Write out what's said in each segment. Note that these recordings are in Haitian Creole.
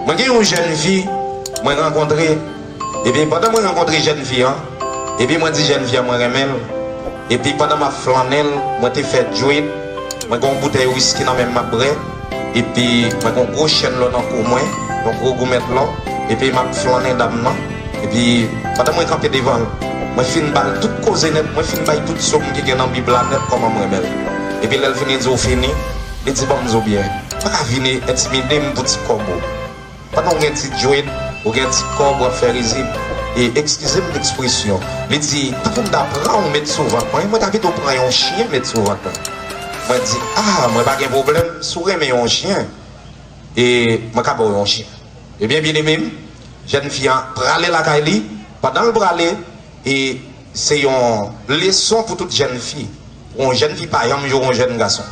Mwen gen yon jèn fi mwen rankontre epi pandan mwen rankontre jèn fi an epi mwen di jèn fi an mwen renmen l epi pandan map flannen l mwen te fè djwip mwen gen yon boutèy wiski nan menm map brè epi mwen gen yon gwo chèn lò nan kou mwen yon gwo goumèt lò epi map flannen dam nan. Epi, pandan mwen kanpe devan l, mwen fin ba l tout koze nèt, mwen fin bay tout som ki gen nan Bib la nèt kòman m renmen l. Epi lè l fin di ou fini, li di ban m zo byen. Ou pa ka vini entimide m pou ti kòb ou. Pandan ou gen ti djwed, ou gen ti kòb, w ap fè rizib. E, ekskize m lekspresyon, li di, tan pou m ta pran ou met sou vant mwen, mwen ta pito pran yon chyen met sou vant mwen. Mwen di, a, mwen pa gen pwoblèm, si w renmen yon chyen, e, mwen ka ba w yon chyen. Ebyen byeneme m, jèn fi an prale lakay li, pandan l prale e se yon leson pou tout jèn fi, pou yon jèn fi pa janm joure yon jèn gason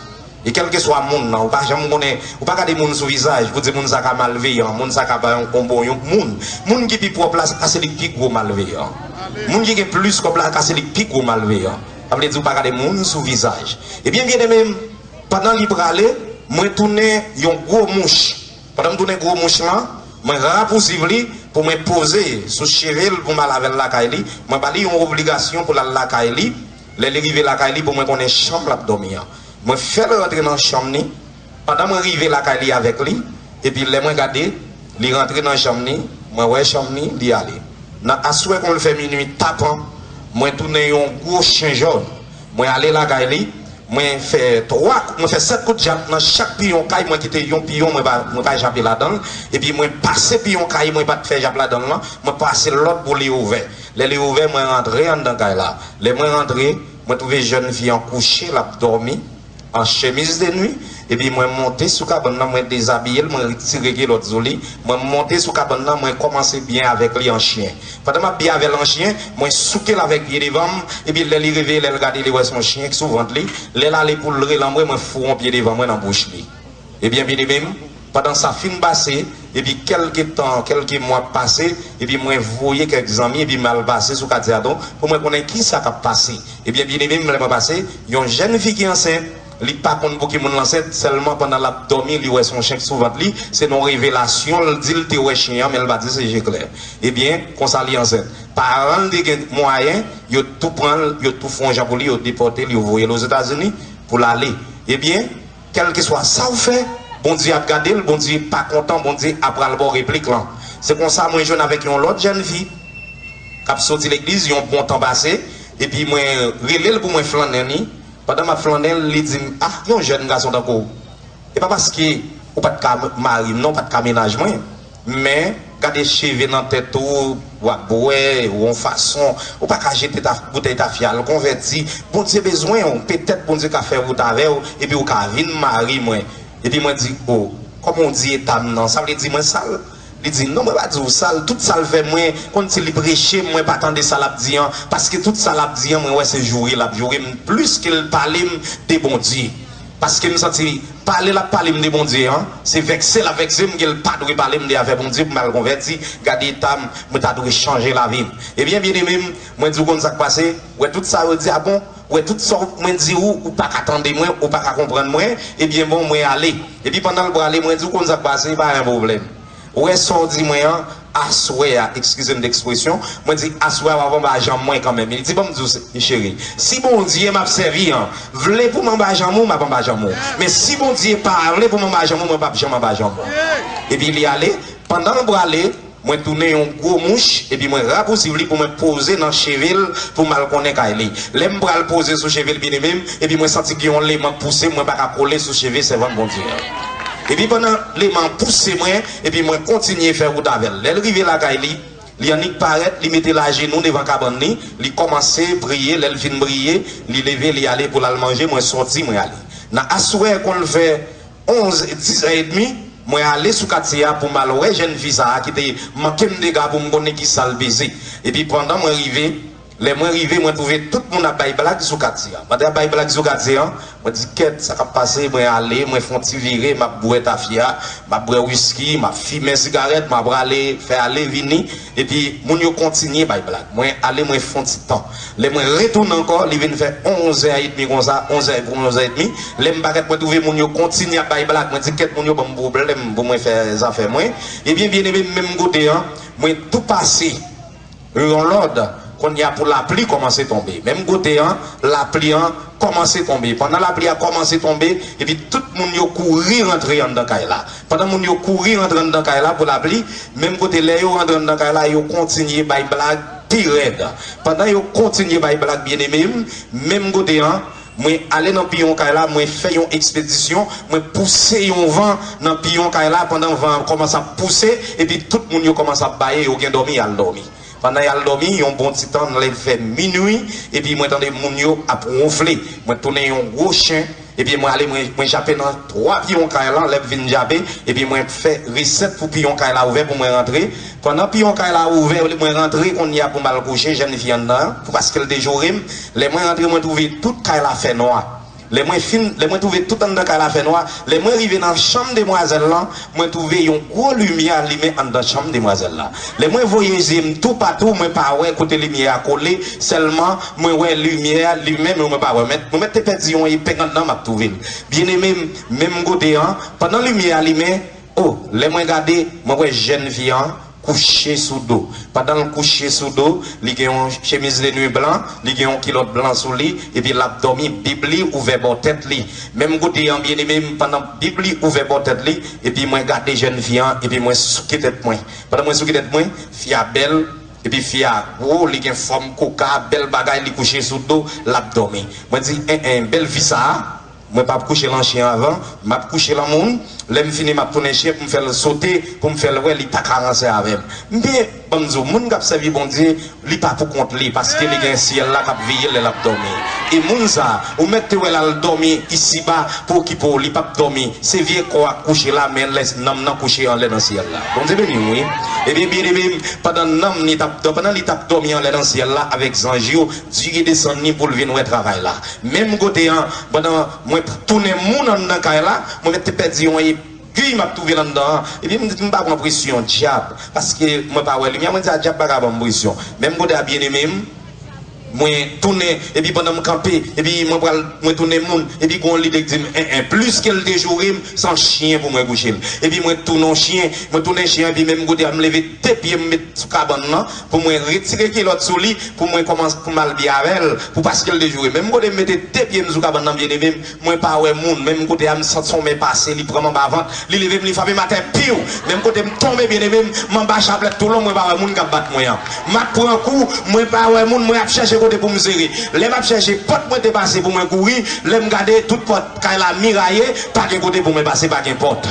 e kèlkeswa moun nan ou pa janm konnen, ou pa gade moun sou vizaj pou di moun sa ka malveyan, moun sa ka pa yon bon bon yon moun, moun ki pi pwòp la se ka se li k pi gwo malveyan, moun ki gen plis kòb la ka se li k pi gwo malveyan, sa vle di ou pa gade moun sou vizaj. Ebyen byeneme m, pandan li prale mwen tounen yon gwo mouch Pandan m tounen gwo mouch lan, mwen rapousiv li pou mwen poze sou cheve l pou m al avè l lakay li. Mwen ba li yon obligasyon pou l al lakay li. Lè li rive lakay li pou mwen konnen chanm l ap dòmi an. Mwen fè l rantre nan chanm ni pandan mwen rive lakay li avèk li. Epi lè mwen gade li rantre nan chanm ni, mwen wè chanm ni, li ale. Nan aswè kon l fè minui tapan, mwen tounen yon gwo chen jòn. Mwen ale lakay li, mwen fè 3, mwen fè 7 kout djab nan chak piyon kay, mwen kite yon piyon mwen pa mwen pa jape ladan l, epi mwen pase piyon kay mwen pa t fè jap ladan l lan, mwen pase lòd pou li ouvè. Lè li ouvè, mwen rantre anndan kay la. Lè mwen rantre, mwen twouve jèn fi an kouche, l ap dòmi. an chemiz de nwi, epi mwen monte sou kabann nan, mwen dezabiye l, mwen retire kilòt sou li, mwen monte sou kabann nan, mwen kòmanse byen avèk li an chyen. Pandan m ap byen avè l an chyen, mwen souke l avèk pye devan m, epi lè li reveye, lè l gade li wè s on chyen k sou vant li, lè l ale pou l re lanmwe, mwen fou on pye devan mwen nan bouch li. E byen byeneme m, pandan sa fin pase, epi kèlke tan, kèlke mwa pase, epi mwen voye kèk zanmi epi m al pase sou katye a tou, pou mwen konnen ki sa k ap pase. E byen byeneme m, lè mwen pase, yon jenn fi ki ansent, li pa konn pou ki moun l ansent, sèlman pandan l ap dòmi li wè s on chen k sou vant li, se non revelasyon l di l te wè chen an men l pa di l se je klè. E byen, konsa li ansent. Paran l te gen mwayen, yo tou pran l, yo tou fon jan pou li, yo depòte l, yo voye l Ozetazini pou l ale. E byen. Kèlkeswa sa w fè, Bondye ap gade l, Bondye pa kontan, Bondye ap pral ba w replik lan. Se konsa mwen jwenn avèk yon lòt jèn fi k ap soti legliz yon bon tan pase, epi mwen rele l pou mwen flannen li. Pandan m ap flannen l, li di m, A, yon jèn gason tankou w, e pa paske ou pa t ka mari m nan, ou pa t ka mennaj mwen. Men, gade cheve nan tèt ou, w ap bwè, ou on fason, ou pa ka jete ta, boutèy tafya al, konvèti, Bondye bezwen ou, petèt Bondye ka fè wout avè ou, epi ou ka vin mari mwen. Epi mwen di, O, kòman ou di eta m nan, sa vle di mwen sal? Li di, Non, mwen pa di ou sal, tout sa l fè mwen, konn si li preche m, mwen pa tande sa l ap di an, paske tout sa l ap di an mwen wè se joure l ap joure m, plis ke l pale m de Bondye. Paskem santi li pale lap palem de Bondye an se vèkse lap vèksem gel pa dwe palem de afè Bondye pou mal konvèti gade etam mwen ta dwe chanje lavim ebyen byenemem mwen diw konn sak pase wè tout sa yo di a bon wè tout sa mwen diw ou paka tande mwen ou paka konprann mwen ebyen bon mwen ale epi pandanl prale mwen diw konn sak pase pa gen pwoblèm Ou wè sa w di mwen an aswè a, ekskize m de ekspresyon, mwen di aswè a w ap anba janm mwen kanmenm. Li di ban m di w se, cheri, si Bondye m ap sèvi an vle pou m anba janm ou, m ap anba janm ou. Men si Bondye pa vle pou m anba janm ou, mwen p ap janm anba janm ou. Epi li ale, pandan l prale, mwen tounen yon gwo mouch epi mwen rapousiv li pou mwen poze nan cheve l pou m al konnen kay li. Lè m pral poze sou cheve l, byeneme m, epi mwen santi gen yon leman k pouse m, mwen pa ka kole sou cheve sèvant Bondye an. Epi pandan Leman an pouse mwen, epi mwen kontinye fè wout avè l. Lè l rive lakay li, li annik parèt, li mete l ajenou devan kabann li, li kòmanse priye, lè l fin priye, li leve li ale pou l al manje, mwen sòti mwen ale. Nan aswè kon l fè 11, 10 è edmi, mwen ale sou katye a pou m al wè jèn fi sa a ki te manke m dega pou m konnen kisa l peze. Epi pandan mwen rive, Lè mwen rive mwen twouve tout moun ap bay blag sou katye an. Mande ap bay blag sou katye an, mwen di kèt sa kap pase mwen ale mwen fon ti vire map bwè tafya, map bwè wiski, map fimen sigarèt mwen aprale fè ale vini epi moun yo kontinye bay blag. Mwen ale mwen fon ti tan. Lè mwen retounen ankò li vin fè onzè edmi konsa, onzè e pou onzè edmi. Lè m parèt mwen twouve moun yo kontinye ap bay blag mwen di kèt moun yo banm pwoblèm pou mwen fè zafè mwen. Ebyen byeneme menm kote an mwen tou pase. Yo yon lòd, Kounye a pou lapli kòmanse tonbe. Menm kote an, lapli an kòmanse tonbe. Pandan lapli a kòmanse tonbe, epi tout moun yo kouri rantre anndan kay la. Pandan moun yo kouri rantre anndan kay la pou lapli, menm kote lè yo rantre anndan kay la, yo kontinye bay blag pi rèd. Pandan yo kontinye bay blag byenneme m, menm kote an, Mwen ale nan piyon kay la, mwen fè yon ekspedisyon, mwen pouse yon van nan piyon kay la pandan van an kòmanse ap pouse epi tout moun yo kòmanse ap baye yo gen dòmi y al dòmi. Pandan y al dòmi yon bon ti tan lè vè minui epi mwen tande moun yo ap wonfle mwen tounen yon gwo chen epi mwen ale mwen mwen jape nan twa piyon kay lan lè m fin jape epi mwen fè resèt pou piyon kay la ouvè pou mwen rantre Pandan piyon kay la ouvè yo di mwen rantre konnya pou m al kouche jèn fi anndan an paske l te joure m. Lè mwen rantre mwen twouve tout kay la fènwa. Lè mwen fin, lè mwen twouve tout anndan kay la fènwa, lè mwen rive nan chanm demwazèl lan, mwen twouve yon gwo limyè alimen anndan chanm demwazèl la. Lè mwen voye zye m toupatou mwen pa wè kote limyè a kole, sèlman mwen wè limyè a limen men mwen pa wè. Mwen mèt te pèdi yon epeng anndan m ap twouve l. Byeneme m, menm kote an, pandan limyè a limen, O, lè mwen gade, mwen wè jèn fi an kouche sou do. Pandan l kouche sou do, li gen yon chemiz de nwi blan, li gen yon kilòt blan sou li, epi l ap dòmi, Bib li ouvè bò tèt li. Menm kote an, byeneme m, pandan Bib li ouvè bò tèt li, epi mwen gade jèn fi an, epi mwen souke tèt mwen. Pandan mwen souke tèt mwen, fi a bèl, epi fi a gwo, li gen fòm koka, bèl bagay, li kouche sou do, l ap dòmi. Mwen di, En en, bèl fi sa a! Mwen pap kouche lan chien avan, map kouche lan moun, lèm fini map tounen chien poum fèl sote, poum fèl wè li paka ranse avèm. Men, banm di w, moun kap sèvi Bondye, li pa pou kont li, paske li gen syèl la kap veyel lè lap dòmi. E moun sa, ou mèt te wèl al dòmi isiba pou okipe w, li pap dòmi, se vye kò a k kouche la, men lè nanm nan kouche anlè nan syèl la. Bondye beni w wi. Ebyen byeneme m, pandan nanm ni tap dò, pandan li tap dòmi anlè nan syèl la avèk zanj yo, Dye desann li poul vin wè travay la. Menm kote an pandan mwen t tounen moun anndan kay la mwen met te pèdi yon egui map twouvel anndan an epi m di m pa pran presyon dyab paske mwen pa wè limyè mwen di a dyab paka banm presyon menm kote a byeneme m mwen tounen epi pandan m kanpe epi mwen pral mwen tounen moun epi gon lide k di m en en plis ke l te joure m se an chyen pou mwen kouche m epi mwen t tounen yon chyen mwen tounen chyen epi menm kote a m leve de pye m met sou kabann nan pou mwen retire kilòt sou li pou mwen kòmanse pou mal byen avèl pou paskel te joure menm kote m mete 2 pyem sou kabann nan byen evem mwen pa wè moun menm kote a m sant son men pase li pranm anba vant li levem li frapem atè piu menm kote m tonbe byen evem m anba chaplèt tou lon mwen pa wè moun kap bat mwen an map pran kou mwen pa wè moun mwen ap chèche kote poum sere lè map chèche pòt mwen te pase pou mwen kouri lèm gade tout pòt kay la miraye pa gen kote pou mwen pase pa gen pòt.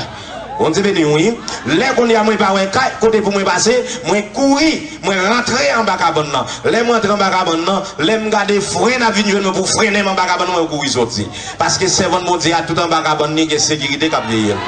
Bondye beniw wi lè konye a mwen pa wè kay kote pou mwen pase mwen kouri mwen rantre anba kabann nan lèm rantre anba kabann nan lèm gade fren ap vin jwenn mwen pou frennenm anba kabann nan mwen kouri soti paske sèvant Bondye a tout anba kabann li gen sekirite kap veyel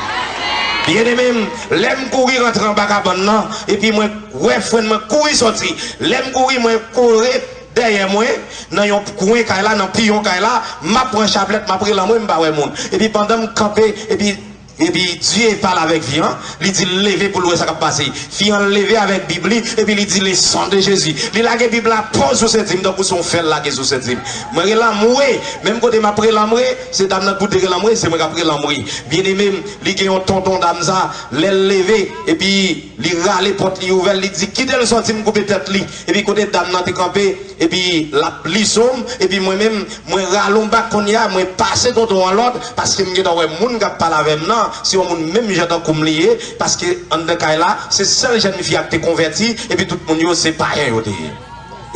byennemem lèm kouri rantre anba kabann nan epi mwen wè fren mwen kouri soti lèm kouri mwen kore dèyè mwen nan yon kwen kay la nan piyon kay la map pran chaplèt map rele anmwe mpa wè moun epi pandanm kanpe epi Epi, Dye pale avèk fi an, li di l leve pou l wè sa k ap pase. Fi an leve avèk Bib li, epi li di Le Sang de Jésus. Li lage Bib la po sou senti m, tankou se yon fè l lage sou senti m. Mwen relanmwe! Menm kote m ap relanmwe, se dam nan k pou te relanmwe, se mwen k ap relanmwe. Byenneme m, li gen yon tonton dam sa a, lè l leve, epi li rale pòt li ouvè l, li di, Kite l sòti m koupe tèt li. Epi kote dam nan te kanpe epi lap li zom epi mwen menm mwen ralon bak konnya mwen pase tonton an lòd paske m gentan wè moun kap pale avèm nan se yon moun menm jan tankoum li ye paske anndan kay la se sèl jèn fi ak te konvèti epi tout moun yo se payen yo te ye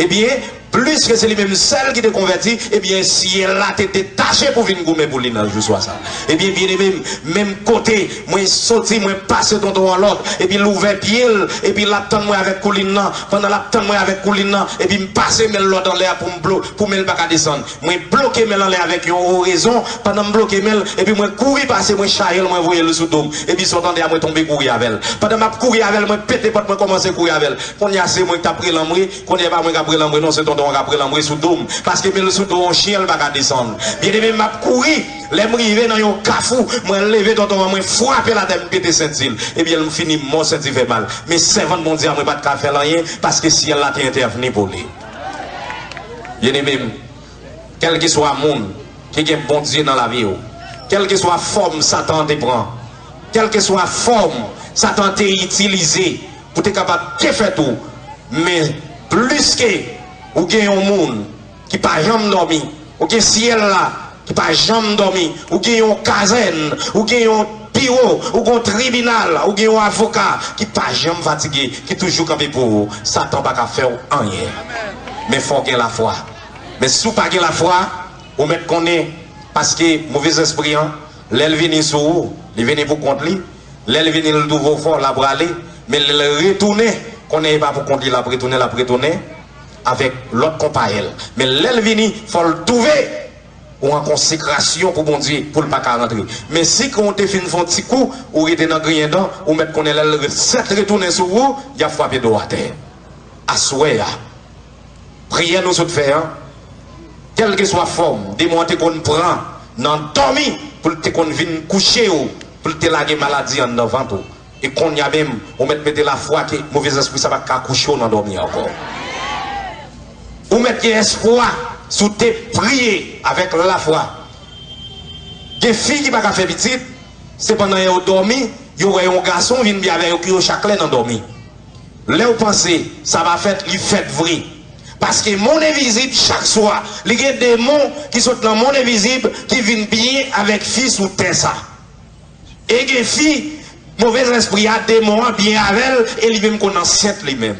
ebyen pliske se li menm sèl ki te konvèti ebyen syèl la te detache pou vin goumen pou li nan jou swa sa ebyen byeneme m menm kote Mwen soti, mwen pase tonton an lòd, epi l ouvè pye l, epi l ap tann mwen avèk koulin nan. Pandan l ap tann mwen avèk koulin nan, epi m pase men l lòd anlè a pou m blo, pou men l pa ka desann. Mwen bloke men l anlè avèk yon orezon, pandan m bloke men l, epi mwen kouri pase, mwen charye l, mwen voye l sou do m. Epi sot anlè a mwen tonbe kouri avè l. Pandan m ap kouri avè l, mwen pete pòt, mwen kòmanse kouri avè l. Kounye a se mwen ki t ap relanmre, kounye a e pa mwen k ap relanmre non, se tonton an k ap relanmre sou do m, paske men l sou do yon chyen l pa ka desann. Byeneme m ap kouri. Lè m rive nan yon kafou, mwen leve tonton an, mwen frape l atè, m pete senti l. Ebyen l m fini mò, senti fè mal. Men sèvant Bondye a mwen pa t ka fè l anyen, paske syèl la te entèvni pou li. Byeneme m, kèlkeswa moun ki gen Bondye nan lavi w, kèlkeswa fòm Satan an te pran, kèlkeswa fòm Satan an te itilize pou te kapab defèt ou, men pliske ou gen yon moun, ki pa janm dòmi, ou gen syèl la ki pa janm dòmi, ou gen yon kazèn, ou gen yon biwo, ou gen yon tribinal, ou gen yon avoka ki pa janm fatige, ki toujou kanpe pou ou. Satan pa ka fè ou anyen. Men fò w gen lafwa. Men si w pa gen lafwa, ou mèt konnen, paske movèzespri an, lè l vini sou ou, li vini pou kont li, lè l vini l twouve w fò, l ap rale, men lè l retounen, konnen e pa pou kont li l ap retounen, l ap retounen avèk lòt konpayèl men lèl vini fòl touve ou an konsekrasyon pou Bondye poul paka rantre men si kan ou te fin fon ti kou ou rete nan griyen dan ou mèt konnen lèl sèt retounen sou ou yap fwape dow atè aswè a priyè nou sot fè an kèlkeswa fòm demon an te konn pran nan dòmi poul te konn vin kouchew poul te lage maladi anndan vant ou. E konnya menm, ou mèt mete lafwa ke move zespri sa pa t ka kouche w nan dòmi ankò. Ou mèt gen espwa si w te priye avèk lafwa. Gen fi ki pa ka fè pitit, se pandan yo dòmi, yo wè yon gason vin bi avè yo ke yo chakle nan dòmi. Lè w panse sa va fèt, li fèt vre. Paske mond envizib chak swa, li gen demon ki sot nan mond envizib ki vin bi avèk fi sou tè sa. E gen fi, move zespri a, demon an, byen avè l e li menm konn ansent li menm.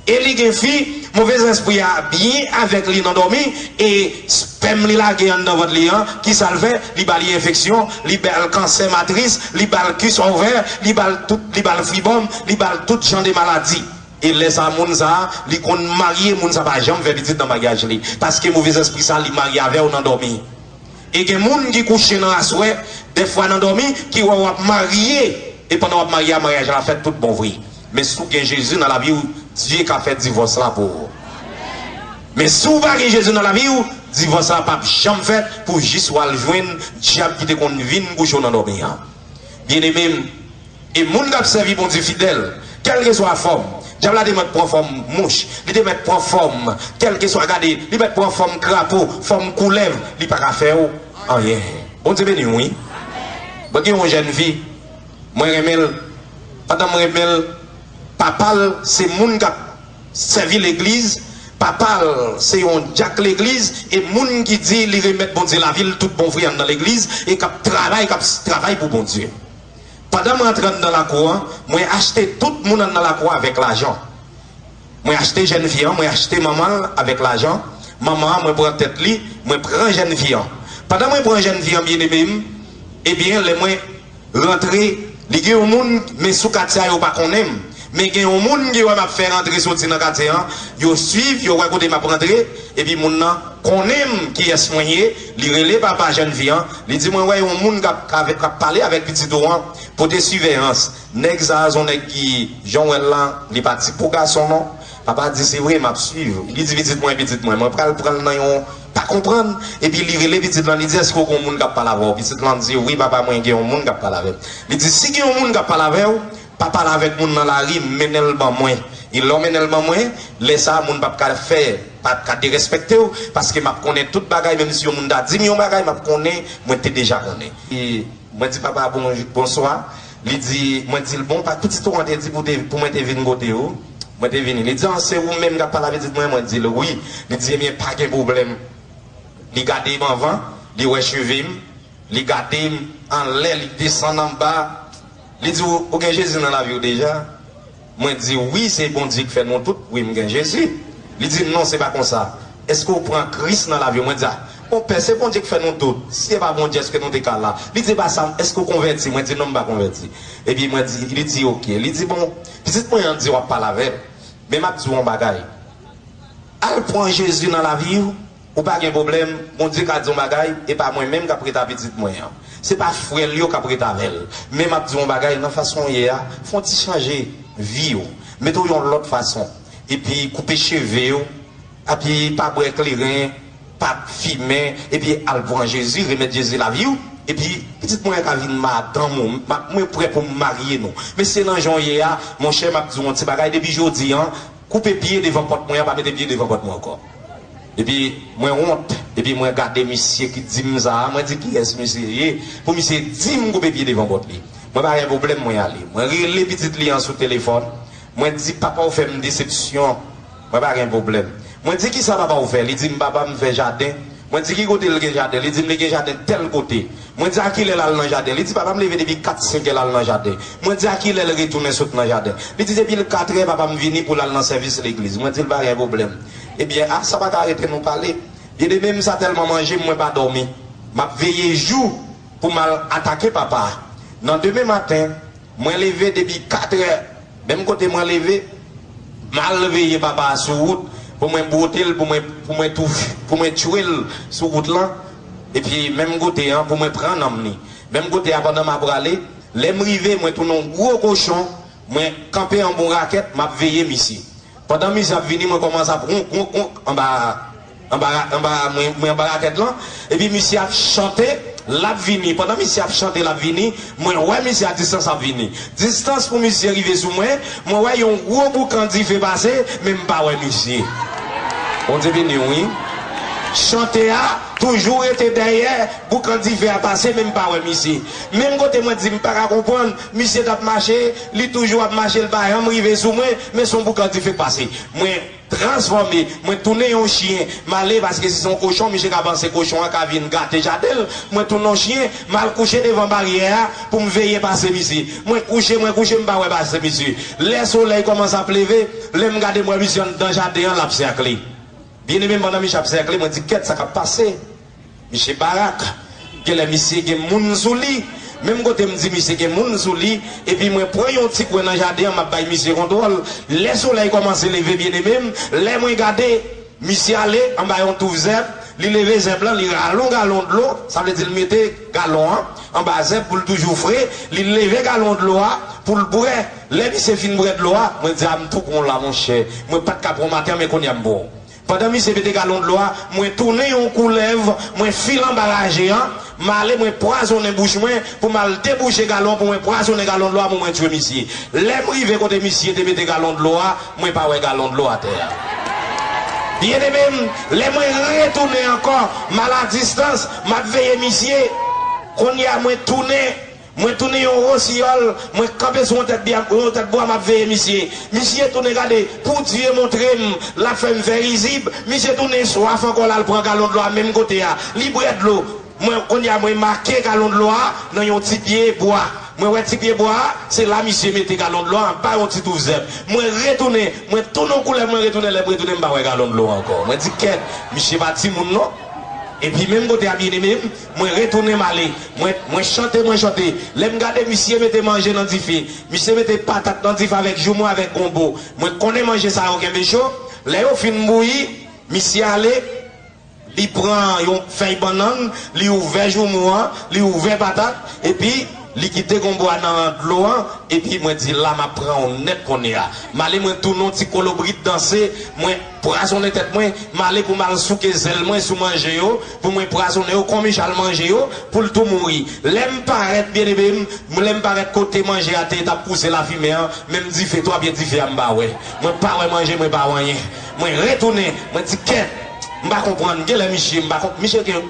E li gen fi, move zespri a byen avèk li nan dòmi e spèm li lage anndan vant li an, ki sa l fè? Li ba li enfeksyon, li ba l kansè matris, li ba l kis ovè, li ba l tout, li ba l fribòm, li ba l tout jan de maladi. E lè sa moun sa, li konn marye, moun sa pa janm fè pitit nan maryaj li. Paske move zespri sa li marye avè w nan dòmi. E gen moun ki kouche nan aswè dèfwa nan dòmi ki wè wap marye e pandan wap marye a maryaj la fèt tout bon vre men si w gen Jezi nan lavi w Dye ka fè divòs la pou ou men si w pa gen Jezi nan lavi w divòs la pap janm fèt pou jis wal jwenn dyab ki te konn vin kouche w nan dòmi an byeneme m. E moun k ap sèvi Bondye fidèl, kèlkeswa fòm, Dyab la te mèt pran fòm mouch, li te mèt pran fòm kèlkeswa, gade, li mèt pran fòm krapo, fòm koulèv, li pa ka fè w anyen. Bondye beni w wi. Mwen gen yon jèn fi, mwen renmen l, pandan m renmen l, papa l se moun k ap sèvi legliz, papa l se yon dyak legliz, e moun ki di li remèt Bondye lavi l tout bon vre anndan legliz, e k ap travay, k ap travay pou Bondye. Pandan m rantre anndan lakou an, mwen achte tout moun anndan lakou an avèk lajan. Mwen achte jèn fi an, mwen achte manman l avèk lajan manman an, mwen pran tèt li, mwen pran jèn fi an. Pandan mwen pran jèn fi an byeneme m, ebyen lè mwen rantre li gen yon moun men sou Katya yo pa konnen m. Men gen yon moun ki wè map fè rantre soti nan katye an, yo swiv, yo wè kote map rantre, epi moun nan konnenm kiyès mwen ye, li rele papa jèn fi an, li di mwen wè yon moun kap kap pale avèk pitit ou an, pote siveyans, nèg sa son nèg ki janw wèl la, li pa ti po gason non, papa di se vre map swiv, li di pitit mwen pitit mwen, mwen pral pranl nan yon pa konprann, epi li rele pitit lan li di èske ou gon moun kap pale avèw, pitit lan di wi papa mwen gen yon moun kap pale avèm, li di si gen yon moun kap pale avèw. Pa pale avèk moun nan lari, mennen l ban mwen. E lè w mennen l ban mwen, lè sa a, moun pap ka fè, pap ka derèspèkte w, paske m ap konnen tout bagay, menm si yon moun ta di m yon bagay, m ap konnen, mwen te deja konnen. E mwen di papa a bon, bonswa. Li di, mwen di l, bon, pa pitit ou an te di pou te, pou mwen te vin kote ou? Mwen te vini. Li di, an, se ou menm k ap pale a pitit mwen an? Mwen di l, wi. Li di, ebyen, pa gen pwoblèm. Li gade m anvan, li wè cheve m, li gade m anlè, li desann anba. Li di w, ou gen Jezi nan lavi w deja? Mwen di, wi, se Bondye ki fè nou tout, wi, m gen Jezi. Li di, non, se pa konsa. Èske ou pran Kris nan lavi w? Mwen di, a, konpè, se Bondye ki fè nou tout. Si e pa Bondye, èske nou te ka la? Li di, e pa sa, èske ou konvèti? Mwen di, non, m pa konvèti. Epi mwen di, li di, oke. Li di, bon, pitit mwen an di w ap pale avè l, men m ap di w yon bagay, al pran Jezi nan lavi w. Ou pa gen pwoblèm, Bondye ka di yon bagay, e pa mwen menm k ap ret a pitit mwen an. Se pa frè l yo k ap ret avè l. Men m ap di w yon bagay, nan fason w ye a, fè yon ti chanje vi w. Mete w yon lòt fason. Epi koupe cheve w, epi pa bwè kleren, pa fimen, epi al pran Jezi, remèt Jezi lavi w, epi pitit mwen an ka vin madanm ou. Mwen prè pou m marye nou. Men si se nan jan w ye a, monchè, m ap di w yon ti bagay, depi jodi an, koupe pye devan pòt mwen an pa mete pye devan pòt mwen ankò epi mwen wont epi mwen gade misye ki dim sa mwen di kiyès misye ye pou misye dim koupe pye devan pòt li mwen pa gen pwoblèm mwen ale mwen rele pitit li an sou telefòn mwen di papaw fèm desepsyon mwen pa gen pwoblèm mwen di kisa papaw fè li dim papam fè jaden mwen di ki kotel gen jaden li dim li gen jaden tèl kote Mwen di a ki lè l al nan jaden. Li di papa m leve depi kat senkè l al nan jaden. Mwen di a ki lè l retounen sot nan jaden. Li di depi l katrè papa m vini pou l al nan sèvis legliz. Mwen di l pa gen pwoblèm. Ebyen a sa pa ka arete nou pale. Byeneme m sa tèlman manje m mwen pa dòmi. M ap veye jou pou m al atake papa a. Nan demen maten, Mwen leve depi 4 è, menm kote mwen leve, m al veye papa a sou wout pou mwen bwote l pou mwen pou mwen pou mwen tchwe l sou wout lan epi menm kote an pou mwen pran nanm li menm kote a pandan m ap prale lè m rive mwen tounen yon gwo kochon mwen kanpe anba yon rakèt m ap veye misye pandan misye ap vini mwen kòmanse ap wonk wonk wonk anba Anbara anbara mwen mwen anbara tèt lan epi misye ap chante lap vini pandan misye ap chante lap vini mwen wè misye a distans ap vini distans pou misye rive sou mwen mwen wè yon gwo boukan dife pase men m pa wè misye Bondye beniw wi chante a toujou rete dèyè boukan dife a pase men m pa wè misye menm kote mwen di m pa ka konprann misye tap mache li toujou ap mache li pa janm rive sou mwen men son boukan dife k pase mwen transfòme mwen tounen yon chyen male paske si se yon kochon misye ka panse kochon an ka vin gate jaden l mwen tounen yon chyen m al kouche devan baryè a pou m veye pase misye mwen kouche mwen kouche m pa wè pase misye lè solèy kòmanse ap leve lè m gade m wè misye anndan jaden an l ap sèkle byeneme m pandan misye ap sèkle mwen di kèt sa k ap pase. Misye barak, genlè misye gen moun sou li, menm kote m di misye gen moun sou li, epi mwen pran yon ti kwen nan jaden an m ap bay misye kontwòl, lè solèy kòmanse leve byeneme m, lè mwen gade, misye ale anba yon touf zèb, li leve zèb lan, li rale yon galon dlo, sa vle di l mete galon an anba zèb pou l toujou fre, li leve galon dlo a pou l bwè, lè misye fin bwè dlo a, mwen di a m tou bon la monchè, mwen pa t ka pran w maten an men kounye a m pran w. Pandan misye vide galon dlo a, mwen tounen yon koulèv, mwen file anba raje a, m ale mwen pwazonnen bouch mwen pou m al debouche galon an pou mwen pwazonnen galon dlo a pou mwen tue misye. Lè m rive kote misye te mete galon dlo a, mwen pa wè galon dlo atè a. Byeneme m, lè mwen retounen ankò, m a la distans, m ap veye misye. Kounye a mwen tounen. Mwen tounen yon rosiyòl mwen kanpe sou yon tèt bya yon tèt bwa map veye misye misye tounen gade pou Dye montrem lap fèm fè rizib misye tounen swaf ankò lal pran galon dlo a menm kote a li bwè dlo mwen kounya mwen make galon dlo a nan yon ti pye bwa mwen wè ti pye bwa a se la misye mete galon dlo a anba yon ti touf zèb mwen retounen mwen tounen yon koulèv mwen retounen lèm retounen mpa wè galon dlo a ankò mwen di kèt misye pa timoun non epi menm kote a byeneme m Mwen retounen m ale. Mwen, mwen chante, mwen chante. Lè m gade misye mete manje nan dife. Misye mete patat nan dife avèk joumou, avèk gonbo. Mwen konnen manje sa yo kenbe cho. Lè yo fin bouyi, misye ale, li pran yon fèy bannann, li ouvè joumou an, li ouvè patat, epi li kite gonbo a nan dlo an, epi mwen di la m ap pran ou nèt kounye a. M ale mwen tounen yon ti kolobrit danse, mwen. Pwazonnen tèt mwen, male pou m al souke zèl mwen sou manje yo, pou mwen pwazonnen yo, kòm Ijal manje yo, pou l tou mouri. Lè m parèt, byeneme m, lè m parèt kote manje a te, t ap pouse lafimen an, men m dife, twa pye dife a m pa wè. Mwen pa wè manje, mwen pa wè anyen. Mwen retounen, mwen di kè, m pa konprann, gen lè misye, m pa konprann, misye gen,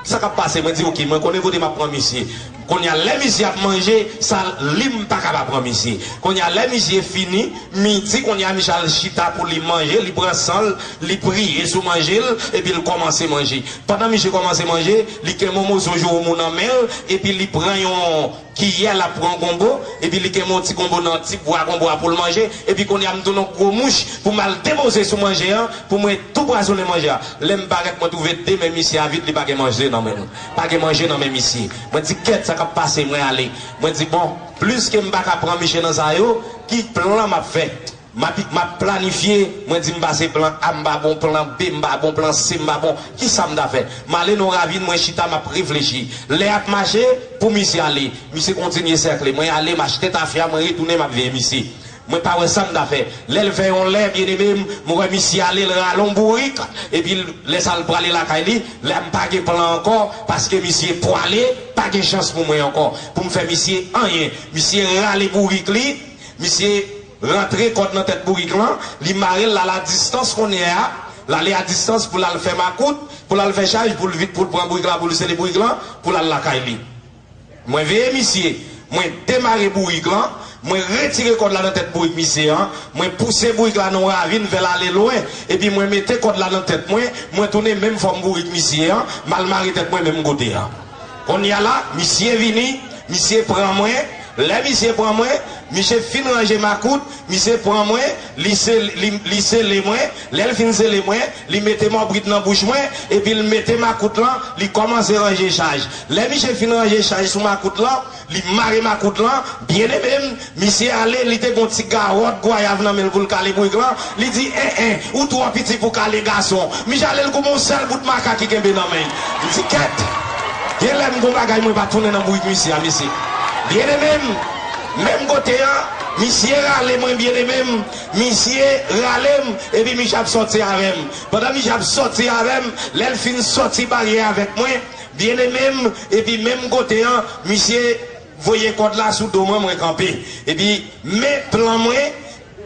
sa k ap pase? Mwen di ok, mwen konnen kote m ap pran misye. Konnya lè misye ap manje sal li m paka pa pran misye konnya lè misye fini midi konnya misye al chita pou li manje li pran san l li priye sou manje l epi l kòmanse manje pandan misye kòmanse manje li gen mon moso joumou nan men l epi li pran yon kiyè l ap pran gonbo epi li gen mon ti gonbo nan ti bwa gonbo a pou l manje epi konnya m tounen yon gwo mouch pou m al depoze sou manje an pou mwen tou pwazonnen manje a lè m parèt mwen twouve de men misye a vid li pa gen manje nan men l. pa gen manje nan men misye. Mwen di kèt sa kap pase mwen ale. Mwen di bon pliske m paka pran misye nan sa yo ki plan map fè. Map map planifye mwen di m pa se plan A m pa bon plan B m pa bon plan C m pa bon kisa m ta fè. M ale nan yon ravin mwen chita map reflechi. Lè ap mache pou misye ale. Misye kontinye sèkle mwen ale m achte tafya mwen retounen map veye misye. Mwen pa wè sam ta fè. Lèl fè yon lè bien aimé m m wè misye ale l rale yon bourik epi l lè sa l prale lakay li la m pa gen plan ankò paske misye pwale pa gen chans pou mwen ankò pou m fè misye anyen misye rale bourik li misye rantre kòd nan tèt bourik lan li mare l lal a distans konnye a l ale a distans pou l al fè makout pou l al fè chaj pou l vide pou l pran bourik la pou l sele bourik lan pou l al lakay li. Mwen veye misye, mwen demare bourik lan, mwen retire kòd la nan tèt bourik misye an, mwen pouse bourik la nan yon ravin fè l ale lwen, epi mwen mete kòd la nan tèt mwen, mwen tounen menm fòm bourik misye an, m al mare tèt mwen menm kote a. Kounye a la, misye vini, misye pran mwen, lè misye pran mwen, misye fin ranje makout, Misye pran mwen, li se, li, li sele mwen, lè l fin sele mwen, li mete mòbrit nan bouch mwen, epi l mete makout lan, li kòmanse ranje chaj. Lè misye fin ranje chaj sou makout lan, li mare makout lan, byenneme m, misye ale, li te gen yon ti gawòt gwayav nan men l pou l kale bourik lan, li di, en, en, ou twò piti pou kale gason. Misye ale l koupe yon sèl bout makak li kenbe nan men l. M di, kèt! Gen lè m gen yon bagay mwen pa tounen nan bourik misye a, mesye. Byenneme m! Menm kote an, misye rale mwen byeneme m, misye rale m, epi misye ap sòti avè m. Pandan misye ap sòti avè m, lè l fin sòti baryè avèk mwen, byeneme m, epi menm kote an, misye voye kòd la sou do mwen, mwen kanpe. Epi men plan mwen.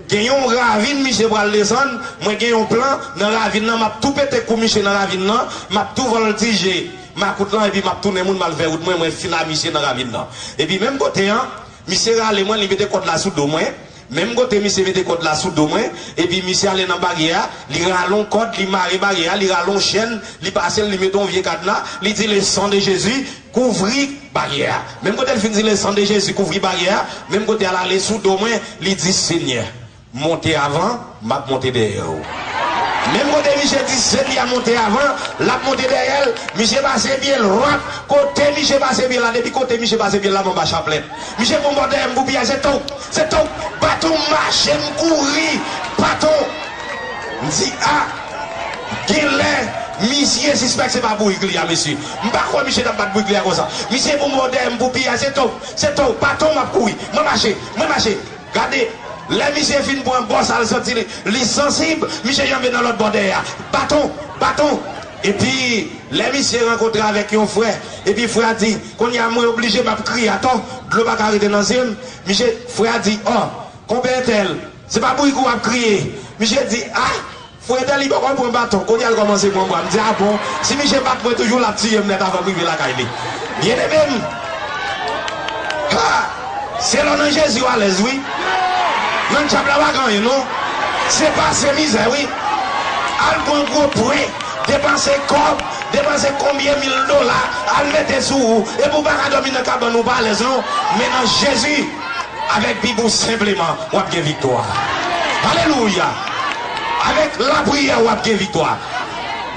Gen yon ravin misye pral desann mwen gen yon plan nan ravin nan map tou pete kou misye nan ravin nan map tou voltije makout lan epi map tounen moun mal fè wout mwen mwen fin a misye nan ravin nan epi menm kote an misye rale mwen li mete kòd la sou do mwen menm kote misye mete kòd la sou do mwen epi misye ale nan baryè a li rale yon kòd li mare baryè a li rale yon chèn li pasel li mete yon vye kadna li di le san de jezi Kouvri baryè a. Menm kote l fin di Lesan de Jezi kouvri baryè a, menm kote a l ale sou do mwen, li di, Senyè, monte avan, m ap monte dèyè ou. Menm kote misye di sè li a monte avan, l ap monte dèyè l, misye pase pye l rwap, kote misye pase pye l la, depi kote misye pase pye l la m anba chaplèt. Misye pran bò dèyè m pou piyay, se tonk! Se tonk! Baton m mache, m kouri, baton! M di, A! Genlè misye sispèk se pa bourik li a mesye. M pa kwè misye t ap bat bri klè konsa. Misye pou mò dèyè m pou piyay. Se to, se to, pa to m ap kouri. Mwen mache, mwen mache. Gade, lè misye fin pran gò sa l santi li, li sansib, misye janbe nan lòt bò dèyè a. Baton! Baton! Epi, lè misye rankontre avèk yon frè, epi frè a di, Kounye a mwen oblije m ap kriye atò, dlo pa ka rete nan zye m. Misye, frè a di, Ò, Konpè Entèl, Se pa bouykou wap kriye. Misye di ah Freddy li poko pran baton kounyal kòmanse pran bwa mdi ah bon si misye bat mwen toujou lap tiyem nèt avanm rive lakay li byennemem haa se lè w nan Jezi w alèz wi nan dyab la pa gen anyen non se pase mizè wi al pran gwo pwen depanse kòb depanse konbyen mil dola al mete sou ou epi w paka dòmi nan kabann ou pa alèz non men nan Jezi. Avèk bibou senpleman wap gen viktwa alelouya avèk lapriyè wap gen viktwa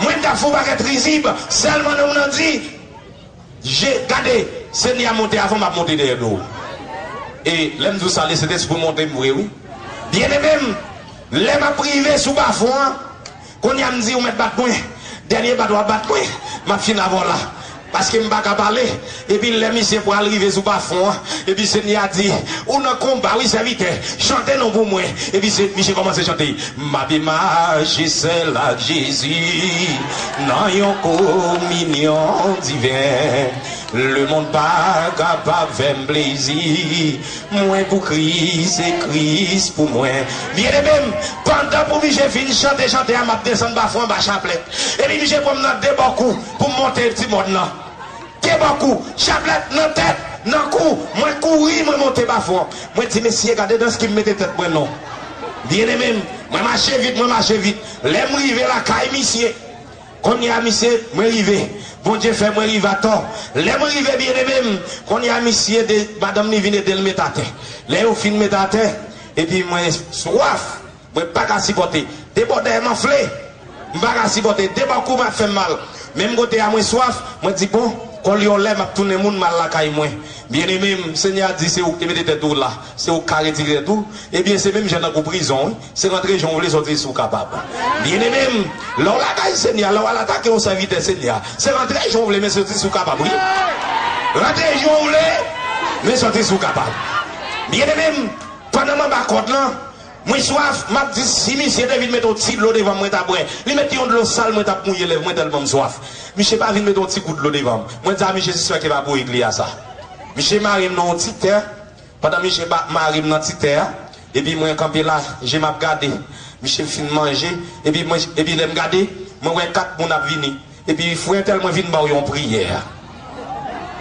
mwen ta fon bagèt rizib sèlman non nan di je gade senyè a monte avan map monte dèyè do e lèm di w sa le sentespri monte m vre wi byeneme m lè map rive sou bafon an Kounye a m di ou mèt bat mwen, dènye bat wap bat mwen, map fin avèw la. Paske m paka pale, epi lè misye pral rive sou bafon an, epi Senyè a di, ou nan konba wi sèvitè, chante non pou mwen, epi se misye kòmanse chante, map imaje sèl ak Jezi nan yon kominyon diven, lemond pa kapab fèm plezi. Mwen pou Kris e Kris pou mwen. Byeneme m, pandan pou mije fin chante chante a m ap desann bafou anba chaplèt, epi mije pran m nan de bò kou pou m monte ti mòn nan. De bò kou, chaplèt nan tèt, nan kou, mwen kouri mwen monte bafou an. Mwen di, Mesye, gade dans ki m mete tèt mwen non! Byeneme m, mwen mache vit, mwen mache vit. Lè m rive lakay misye, Kounye a misye, mwen rive. Bondye fè mwen rive atò. Lè mwen rive byeneme m, kounye a misye ede madanm li vin ede l met atè. Lè yo fin met atè, epi mwen swaf, mwen pa ka sipòte. Debò dèyè m anfle. M pa ka sipòte. Debò kou m ap fè m mal. Menm kote a mwen swaf, mwen di, Bon, kòl yon lè m ap tounen moun, m al lakay mwen. Byeneme m, Senyè a di se ou ki te mete tèt ou la, se ou ki ka retire tèt ou. Ebyen se menm jan tankou prizon wi. Se rantre jan w vle soti si w kapab. Byeneme m, lè w lakay Senyè a, lè w al atake yon sèvitè Senyè a, se rantre jan w vle men soti si w kapab wi. Rantre jan w vle men soti si w kapab. Byeneme m, pandan m anba kòd lan, mwen swaf, m ap di si misye te vin met yon ti dlo devan m mwen ta bwè. Li met yon dlo sal mwen t ap mouye lèv mwen tèlman m swaf. Misye pa vin met yon ti gout dlo devan m. Mwen di a misye sispèk li pa bourik li a sa. Misye mare m nan yon ti tè, Pandan misye ba marim nan ti tè a epi mwen kanpe la jem ap gade misye fin manje epi mwen epi lèm gade mwen wè 4 moun ap vini epi frè tèl mwen vin baw yon priyè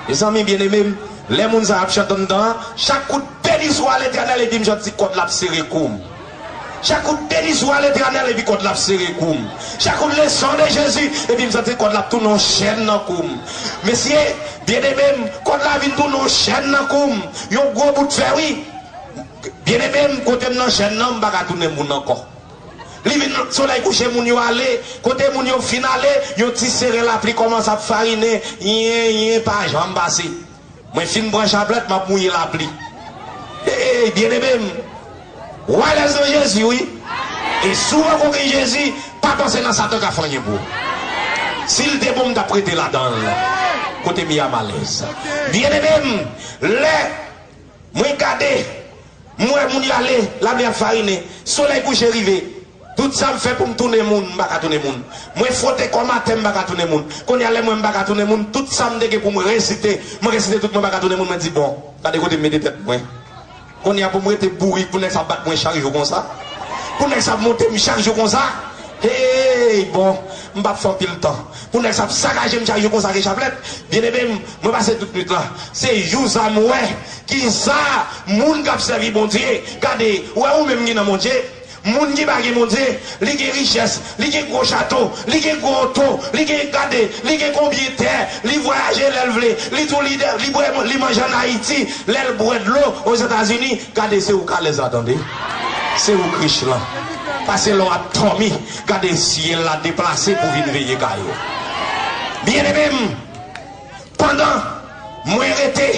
mezanmi byen emem lè moun sa ap chant anndan an chak kout beni swa letènèl epi m janti kòd la ap sere koum. Chak kout denizwa letènèl epi kòd la ap sere koum Chak kout le san de jezi epi m santi kòd la ap tounen yon chèn nan koum Mesye byeneme m kòd la vin tounen yon chèn nan koum Yon gwo bout fè wi Byeneme m kote m nan chèn nan m pa ka tounen moun ankò Li vin solèy kouche moun yo ale Kote moun yo fin ale yon ti seren lapli kòmanse ap farinen Yen yen pa janm pase. Mwen fin pran chaplèt map mouye lapli eeyy byeneme m ou alèz nan Jezi wi e si w pako gen Jezi pa panse nan satan ka fè anyen pou ou si l te bon m tap rete ladan l kote m ye a m alèz byeneme m lè Mwen gade, m wè moun yo ale, lame ap farinen, solèy kouche rive. Tout sa m fè pou m tounen moun, m pa ka tounen moun. Mwen fwote kò m atè, m pa ka tounen moun. Kounye a lè m wè m pa ka tounen moun, tout sa m te gen pou m resite, m resite tout mwen pa ka tounen moun, mwen di bon, gade kote m mete tèt mwen. Kounye a pou m rete bourik pou nèg sa ap bat mwen chak jou konsa? Pou nèg sa ap monte m chak jou konsa? Hey! Bon, m pa ap fè anpil tan. pou nèg sa ap sakajem chay yo konsa gen chaplèt byen emem mwen pase tout nwit la se you sa m wè kisa moun kap sèvi bondye gade ou wè ou menm gen nan bondye moun ki pa gen bondye li gen richès li gen gwo chato li gen gwo oto li gen gade li gen konbyen tè li vwayaje lè l vle li tou lidè li bwè li manje an ayiti lè l bwè dlo ozetazini gade se ou k alèz la tande se ou k rich lan pase lè w ap dòmi Gade syèl la deplase pou vin veye kay ou. Byeneme m, pandan mwen rete,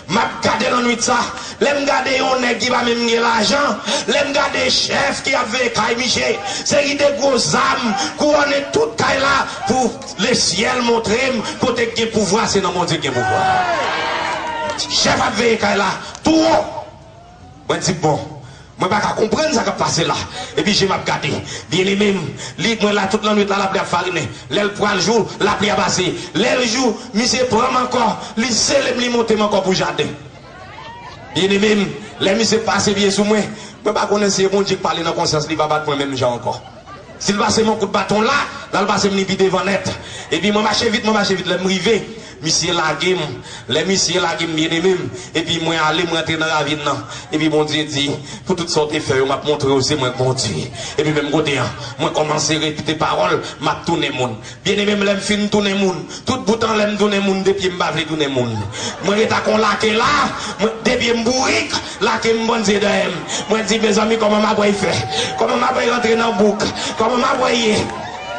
m ap gade lannuit sa, lè m gade yon nèg ki pa menm gen lajan, lè m gade chèf ki ap veye kay miche, seri de gwo zam kouwòne tout kay la pou lesyèl montre m kote k gen pouvwa se nan Bondye k gen pouvwa. Chèf ap veye kay la tou wo. Mwen di, Bon, mwen pa ka konprann sa k ap pase la. Epi je m ap gade. Byenneme m, li, mwen la tout lannuit la, lapli ap farinen. Lè l pral jou, lapli a pase. Lè l jou, misye pran m ankò, li sele m, li monte m ankò pou jaden. Byenneme m, lè misye pase pye sou mwen, mwen pa konnen si e Bondye k pale nan konsyans li pa bat mwen menm jan ankò. Si l pase m yon kout baton la, l al pase m li pi devan nèt. Epi mwen mache vit, mwen mache vit. Lè m rive, misye lage m. Lè misye lage m, byenneme m, epi mwen ale, mwen antre nan ravin nan. Epi Bondye di, Pou tout sa w te fè yo, m ap montre w se mwen k Bondye. Epi menm kote an, mwen kòmanse repete pawòl, m ap tounen moun. Byeneme m lè m fin tounen moun tout boutan lè m tounen moun de pye m pa vle tounen moun mwen ret ak yon lake la mwen de pye m bourik lake m bann zye dèyè m mwen di mezanmi kòman m apral fè kòman m apral rantre nan bouk kòman m apral ye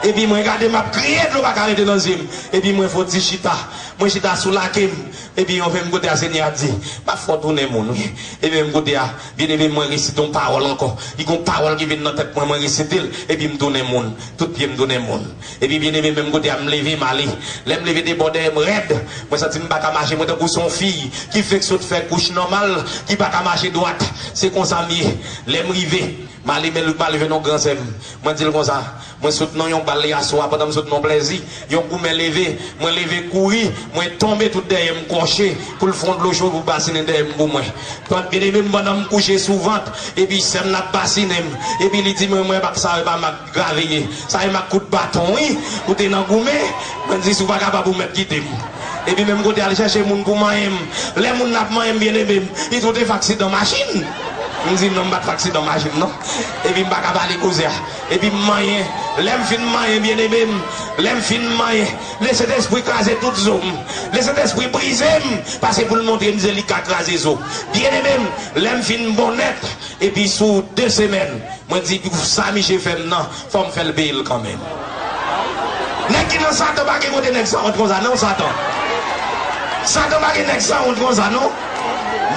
epi mwen gade m ap kriye dlo pa ka rete nan zye m epi mwen fon ti chita mwen chita sou lake m epi yon menm kote a senyè a di m ap fè w tounen moun wi epi menm kote a. Byeneme m mwen resite yon pawòl ankò Li gen yon pawòl ki vin nan tèt mwen mwen resite l Epi m tounen moun Tout pye m tounen moun Epi byeneme menm kote a m leve m ale Lè m leve de bò dèyè m rèd Mwen santi m pa ka mache mwen tankou se yon fiy ki fenk sot fè kouch nòmal ki pa ka mache dwat Se konsa m ye Lè m rive m ale men Louk m ale jwenn yon gran sè m Mwen di l konsa Mwen sot nan yon bal yaswa pandan m sot nan yon plèzi. Yon goumen leve, mwen leve kouri, mwen tonbe tout dèyè m kòche pou l fon dlo cho pou basinen dèyè m pou mwen. Pant byeneme m pandan m kouche sou vant epi sè m nan ap basinen m epi li di mwen mwen bak sa yo pa mak grave ye sa e mak kout baton wi ou te nan goumen mwen di si w pa kapab ou mèt kite m epi men m kote al chèche moun pou manyen m lè moun nan ap manyen m byeneme m li di ou te fè aksidan machin m di non m pat fè aksidan machin non epi m pa ka pale koze a. Epi m manyen, lè m fin manyen byeneme m, lè m fin manyen, le Sentespri kraze tout zo m, le Sentespri brize m, pase pou l montre m ze li ka kraze zo. Byeneme m, lè m fin bon nèt, epi sou de semèn, mwen di, pou sa miche fè m nan, fò m fè l peye l kanmenm. Nèg ki nan Satan pa gen kote nèg sanwont konsa non Satan. Satan pa gen nèg sanwont konsa non.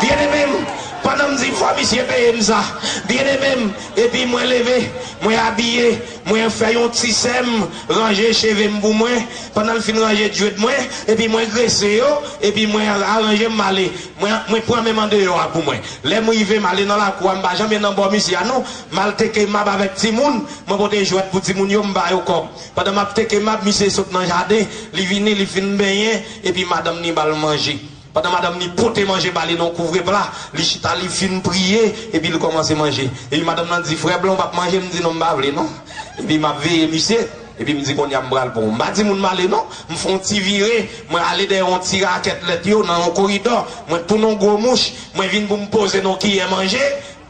Byeneme m, pandan m di fò misye peye m sa, byeneme m, Depi mwen leve, mwen abiye, mwen fè yon ti sè m ranje cheve m pou mwen, pandan l fin ranje djwed mwen, epi mwen grese yo, epi mwen aranje m m ale, mwen mwen pran menm andeyò a pou mwen. Lè m rive, m ale nan lakou a, m pa janmen nan bò misye a non, m al teke mab avèk timoun, mwen pote jwèt pou timoun yo, m ba yo kòb. Pandan m ap teke mab, misye sot nan jaden, li vini, li fin benyen, epi madanm ni ba l manje. Pandan madanm ni pote manje ba li nan yon kouvre pla, li chita li fin priye epi li kòmanse manje. Epi madanm lan di, Frè blan ou pap manje? M di, Non m pa vle non. Epi m ap veye misye, epi m di, Konnya m pral pran w. M pa di moun m ale non. M fè yon ti vire, mwen ale dèyè yon ti rakèt lèt yo nan yon koridò, mwen tounen yon gwo mouch, mwen vin pou m poze nan yon kiyè manje.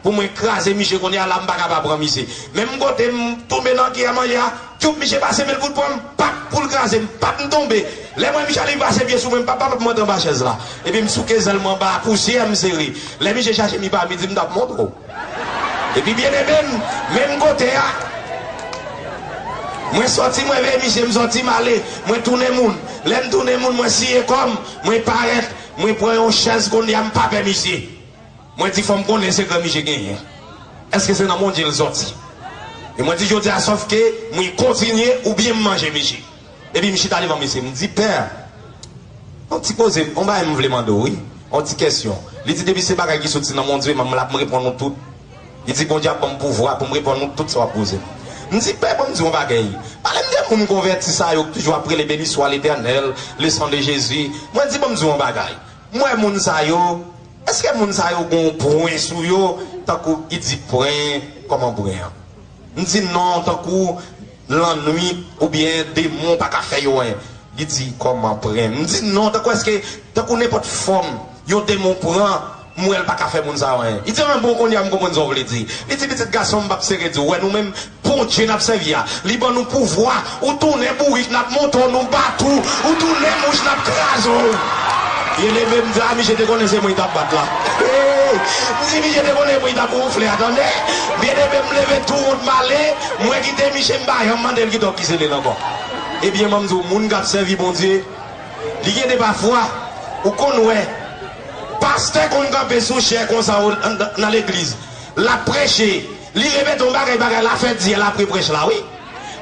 Pou mwen kraze miche kounye a la m paka pa pran miche menm kote m tonbe nan kiyè manje a tchuup miche pase men l fout pran m pap poul kraze m pap m tonbe lè m wè miche li pase pye sou mwen m pap pap monte anba chèz la epi m souke zèl m anba pousyè m sere lè miche chache mi pa mi di m tap montre w epi byeneme m menm kote a mwen sòti mwen veye miche m sòti m ale mwen tounen moun lè m tounen moun mwen siye kò m mwen parèt mwen pran yon chèz kounye a m pa pè miche. Mwen di fòm konnen sekrè miche genyen eske se nan bondye l sòti e mwen di jodia sòf ke mwen kontinye ou byen m manje miche epi m chita devan mesye m di pè yon ti koze yon bagay m vle mande w wi yon ti kesyon li di depi se bagay ki sòti nan bondye m ap reponn ou tout li di bondye ap banm pouvwa pou m reponn ou tout sa w ap poze m m di pè banm di w yon bagay pale m de moun konvèti sa yo k toujou ap rele beni swa letènèl le san de jezi mwen di banm di w yon bagay m wè moun sa yo Eske moun sa yo gonw pwen sou yo tankou ki di pwen koman pwen an m di non tankou lannwit oubyen demon paka fè yo anyen li di koman pren m di non tankou eske tankou nenpot fom yon demon pran m wèl paka fè moun sa yo anyen li di an bon konnya m konprann sa w vle di li di pitit gason m pap sere di w wè nou menm Bondye nap sèvi a li ban nou pouvwa ou tounen bourik nap monte w nou bat ou ou tounen mouch nap kraze w vye leve m vla misye te konnen se mwen li tap bat la eeyy m di misye te konnen se mwen li tap wonfle a tande vye leve m leve tou wont m ale mwen kite misye m pa janm mande l kite w ki sele l ankò ebyen banm di w moun kap sèvi Bondye li gen de pafwa ou konn wè pastè konn kanpe sou chè konsa nan legliz lap preche Li repete yon bagay bagay la fè dyèl apre prèch la wi.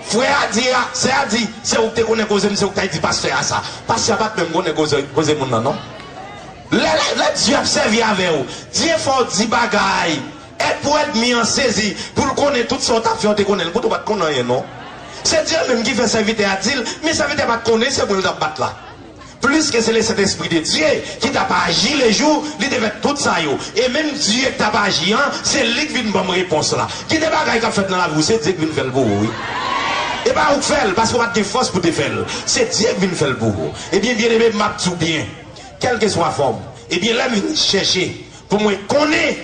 Frè a di a, sè a di, se ou ki te konnen koze m se ou ki tay di pastè a sa. Pastè a pat menm konnen koze koze moun nan non. Lè lè lè Dye ap sèvi avè w, Dye fè w di bagay et pou èdmi an sezi pou l konnen tout sa w tap fè ou te konnen l poutan w pat konnen anyen non. Se Dye menm ki fè sèvitè a di l, men sèvitè a pat konnen se mwen l tap bat la. Pliske se le Sentespri de Dye ki tap aji le jou li te fè tout sa yo. E menm Dye k tap aji an, se li k vin ban m repons la. Gen de bagay kap fèt nan lavi w, se Dye k vin fè l pou ou wi. E pa ou k fè l, paske ou pat gen fòs pou te fè l. Se Dye k vin fè l pou ou. Ebyen byeneme m, map di w byen, kèlkeswa fòm, ebyen lè m vin chèche pou mwen konnen,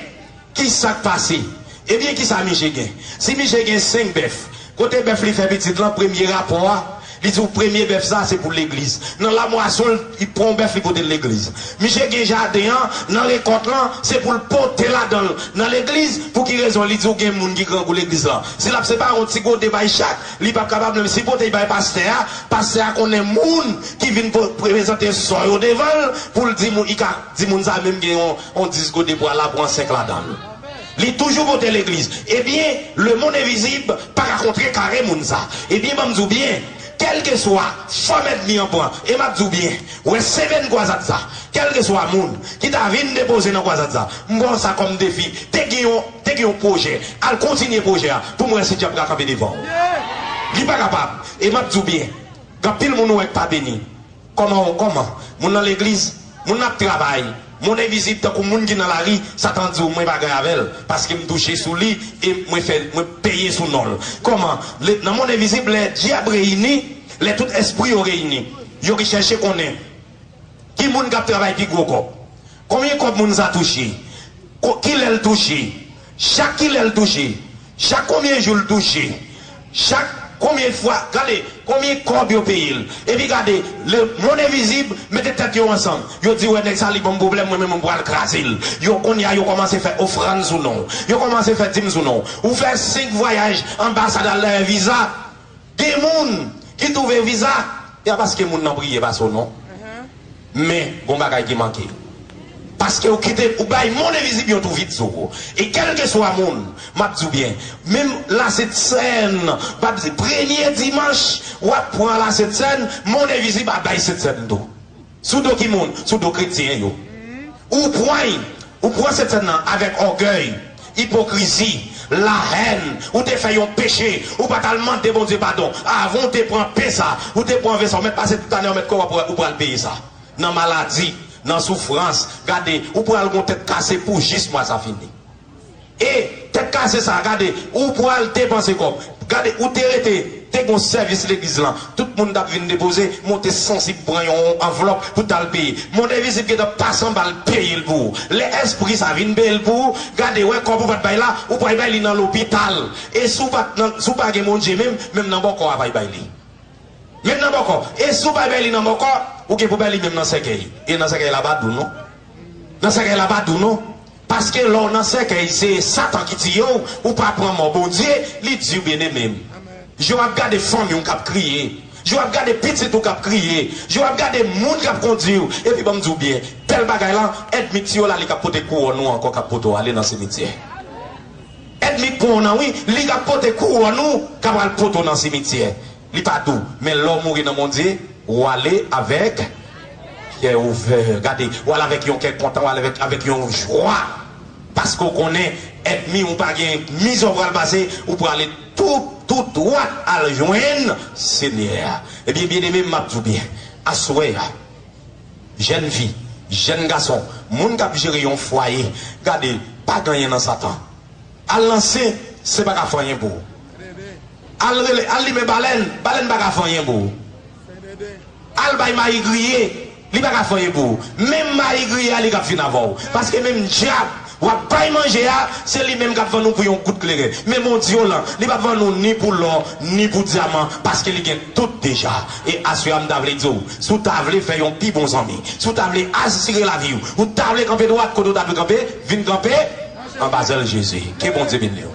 Kisak pase? Ebyen kisa Mije gen? Si Mije gen 5 bèf, kote bèf li fè pitit lan premye rapò a, li di w premye bèf sa se pou legliz. Nan lamwason l, li pran yon bèf li pote l legliz. Mije gen jaden an, nan rekòt lan, se pou l pote ladan l nan legliz, pou ki rezon? Li di w gen moun ki grangou legliz lan. Si l ap separe yon ti gode bay chak, li p ap kapab menm. Si l pote l bay pastè a, pastè a konnen moun ki vin prezante sò yo devan l, pou l di moun, li ka di moun sa menm gen yon. On 10 go de bwa la pran 5 ladanl li toujou monte legliz ebyen le mond envizib paka kontre kare moun sa ebyen banm diw byen kelkeswa fòm èdmi an pran e map diw byen wè semenn kwazad sa kelkeswa moun ki ta vin depoze nan kwazad sa m pran sa kòm defi te gen yon te gen yon pwojè al kontinye pwojè a poum wè si djab ka kanpe devanw li pa kapab e map diw byen gen anpil moun ou wè k pa beni. Kòman w kòman? Moun nan legliz, moun nan ap travay, moun envizib tankou moun ki nan lari, Satan di w mwen pa gen avè l paske m touche sou li e mwen fè mwen peye sou non l. Kòman? Lè nan mond envizib lè dyab reyini, lè tout espri yo reyini, yo chèche konnen ki moun k ap travay pi gwo kòb. Konbyen kòb moun sa touche? Ko kilè l touche? Chak kilè l touche? Chak konbyen jou l touche? Chak konbyen fwa? Gade konbyen kòb yo peye l. Epi gade le mond envizib mete tèt yo ansanm. Yo di wè nèg sa li ban m pwoblèm mwen menm m pral kraze l. Yo kounye a yo kòmanse fè ofrann sou non w. Yo kòmanse fè dim sou non w. Ou fè 5 vwayaj anbasad al dèyè viza. Gen moun ki twouve viza ya paske moun nan priye pase w non men gon bagay ki manke paske ou kite ou bay mond envizib yon tou vid sou ou e kèlkeswa moun map di w byen menm la sent sèn bab di premye dimanch wap pran la sent sèn mond envizib ap bay sent sèn tou. Sou do ki moun? Sou do kretyen yo. Ou pwany, ou pwan Sent Sèn nan avèk ògèy, ipokrizi, lahèn, ou te fè yon peche, ou pa t al mande Bondye padon, avan ou te pran pen sa, ou te pwan ven sa, ou mèt pase tout ane, ou mèt kore, ou pral peye sa. Nan maladi, nan soufrans, gade, ou pral gon tèt kase pou jis mwa sa fini. E tèt kase sa gade ou pwal depanse kòb gade ou te rete te gon sèvis legliz lan tout moun tap vin depoze monte sansib pran yon anvlòp pou tal peye monde envizib gentan pas anbal peyel pou ou lè espri sa vin peyel pou ou gade wè kòb ou pat bay la ou pwal bay li nan lopital e si ou pat nan si ou pa gen Bondye menm menm nan bòkò a pay bay li menm nan bòkò e si ou pay bay li nan bòkò ou gen pou bay li menm nan sèkèy e nan sèkèy la pa dou non nan sèkèy la pa dou non. Paske lè w nan sèkèy se satan ki tiye w ou pa pran mò Bondye li di w byeneme m je w ap gade fanmi w k ap kriye je w ap gade pitit ou k ap kriye je w ap gade moun k ap kondi w epi ban m di w byen bèl bagay lan èdmi tiye w la li k ap pote kouwòn ou ankò k ap pote w ale nan simityè èdmi k pran w nan wi li k ap pote kouwòn ou k ap al pote w nan simityè li pa dou men lè w mouri nan Bondye ou ale avèk kè ouvè gade ou ale avèk yon kè kontan ou ale avèk yon jwa paske w konnen èdmi ou pa gen mizè w pral pase ou prale tout tout dwat al jwenn Senyè a ebyen byeneme m ap di w byen aswè a jèn fi jèn gason moun k ap jere yon fwaye gade pa gen anyen nan satan al nan sen se pa ka fè anyen pou ou. Al rele, al limen balèn, balèn pa ka fè anyen pou ou. Al bay mayi griye, li pa ka fè anyen pou ou. Menm mayi griye a li k'ap fin avè ou. Paske menm dyab w'ap bay manje a, se li menm k'ap vann ou pou yon gout kleren. Men Bondye'w lan, li p'ap vann ou ni pou lò, ni pou dyaman, paske li gen tout deja. E aswè a m ta vle di'w, si w ta vle fè yon pi bon zanmi, si w ta vle asire lavi'w, ou ta vle kanpe dwat kote w ta dwe kanpe, vin kanpe anba zèl Jezi. Ke Bondye beni'w.